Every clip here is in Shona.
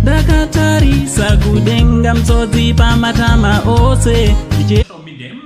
ndakatarisa kudenga mtsodzi pamatama ose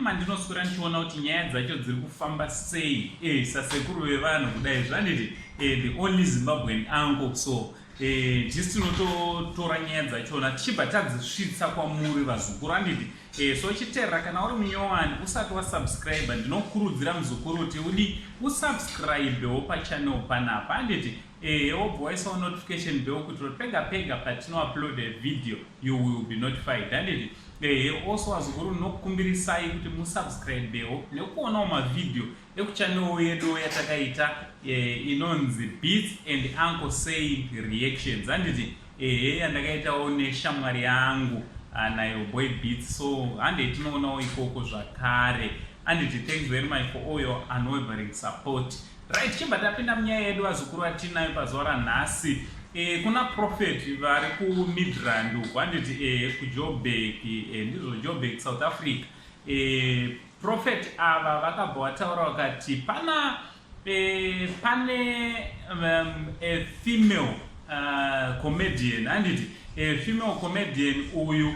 mandinoswera ndichiona kuti nyaya dzacho dziri kufamba sei e sasekuru vevanhu kudai zvaniti e eh, the only zimbabwean angle so Eh, tisu tinototora nyaya dzachona tichibva tadzisvitsa kwamuri vazukuru andidi eh, so chiterera kana uri munyowani usati wasubscribe ndinokurudzira muzukuru kuti udi usubscribewo pachanel panapa anditi eh, wobva waisawo notification bell kuti pega pega patinoupload a video you will be notified anditi eh, also vazukuru ndinokukumbirisai kuti musubscribewo nekuonawo mavideo Ekuchannel yedu yatakaita eh, inonzi beats and uncle say reactions handiti ehe yandakaitawo neshamwari yangu ah, nayo boy beats so handei tinoonawo ikoko zvakare handiti thanks very much for all your unwavering support right chibva tapinda munyaya yedu vazukuru vatinayo pazuva ranhasi e, kuna profeti vari kumidrand uku handiti e, eh, kujobek e, eh, ndizvo jobek south africa e, Prophet ava vakabva wataura wakati pana eh, pane um, a female uh, comedian handiti a female comedian uyu uh,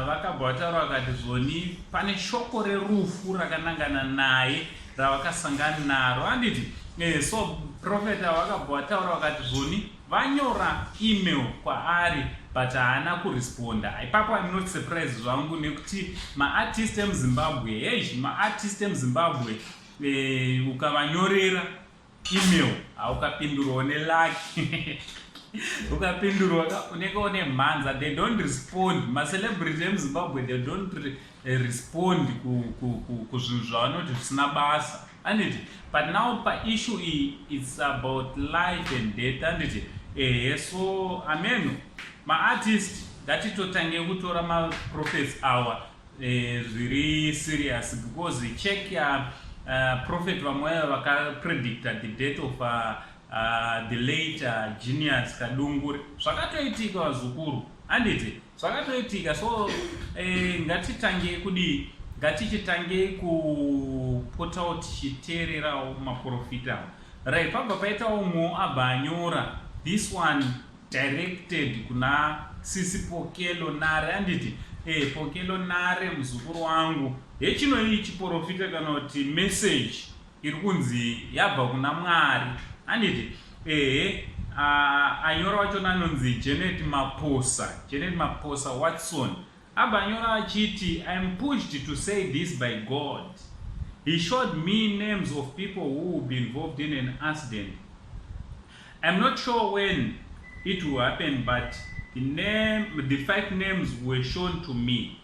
vakabva wataura wakati zvoni pane shoko rerufu rakanangana naye ravakasangana naro handiti eh, so profeta wakabva wataura wakati zvoni Vanyora email kwaari but haana kuresponda ipapo im not surprise zvangu nekuti maartist emuzimbabwe hei maartist emuzimbabwe eh, ukavanyorera email haukapindurwa une laki ukapindurwa ka unenge une mhanza they don't respond macelebrity emuzimbabwe they don't re, eh, respond kuzvinhu zvavanoti zvisina basa Anditi but now pa issue iyi it's about life and death anditi ehe so ameno maartist ngatitotange kutora maprophets awa eh, zviri serious because check ya uh, prophet vamwe vakapredicta the death of uh, Uh, the late uh, genius kadungure zvakatoitika vazukuru handiti zvakatoitika so eh, ngatitangei kudii ngatichitangei kupotawo tichiteererawo maprofita right pabva paitawo umwe abva anyora this one directed kuna sisi pokelo nare handiti hey, eh, pokelo nare muzukuru wangu hechinoyi chiprofita kana kuti message iri kunzi yabva kuna mwari handiti ehe uh, anyora wachona anonzi janet maposa janet maposa watson abva anyora achiti iam pushed to say this by god he showed me names of people who will be involved in an accident iam not sure when it will happen but the, name, the five names were shown to me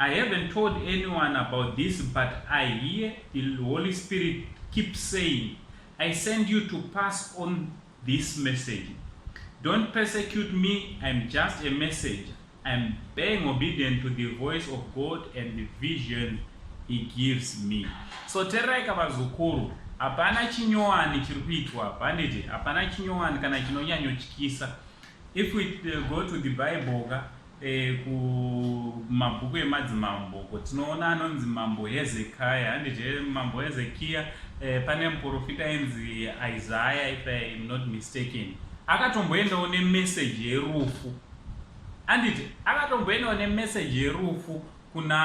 I haven't told anyone about this but I hear the Holy Spirit keep saying I send you to pass on this message. Don't persecute me, I'm just a messenger. I'm being obedient to the voice of God and the vision he gives me. So tererai kavazukuru hapana chinyowani chiri kuitwa banditi hapana chinyowani kana chinonyanyotyisa If we uh, go to the Bible ka eh, kumabhuku emadzimambo ko tinoona anonzi mambo Hezekiah handizve mambo Hezekiah eh, pane muprofita ainzi Isaiah if I am not mistaken akatomboendawo nemessage yerufu handiti akatomboendawo nemessage yerufu kuna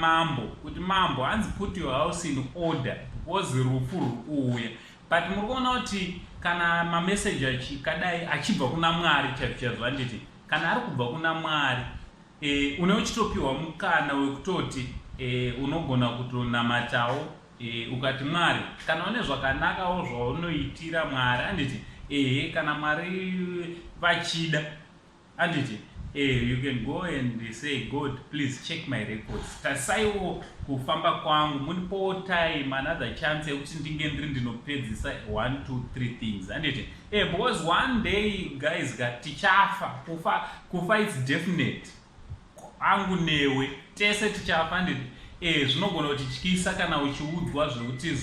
mambo kuti mambo hanzi put your house in order wozi rufu rwuuya but muri kuona kuti kana mameseji achikadai achibva kuna mwari chaizvo handiti kana ari kubva kuna mwari e, une uchitopiwa mukana wekutoti e, unogona kutonamatawo e, ukati mwari kana une zvakanakawo zvaunoitira mwari handiti ehe kana mwari vachida Anditi eh, you can go and say God please check my records, tarisaiwo kufamba kwangu, mundipowo time another chance yekuti ndinge ndiri ndinopedzisa 1 2 3 things. Anditi eh, because one day guys ka tichafa, kufa kufa it's definite, angu newe tese tichafa. Anditi eh, zvinogona kutityisa kana uchiudzwa zvekuti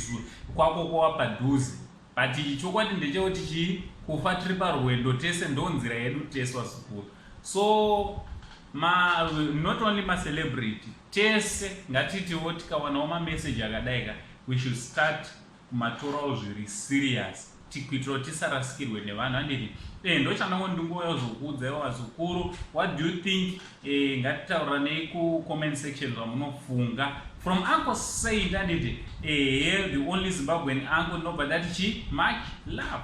kwako kwawa padhuze But chokwadi ndechekuti chii kufa tiri parwendo tese ndonzira yedu tese vazukuru so ma, not only macelebrity tese ngatitiwo tikawanawo mameseji akadai ka we should start kumatorawo zviri serious tikuitirawo tisarasikirwe nevanhu anditi e eh, ndochandango ndingoya zvokuudza ivo vazukuru what do you think Eh, ngatitauriranei kucomment section zvamunofunga from uncle saint anditi ehe eh, the only zimbabwean uncle ndinobva ndati chi much love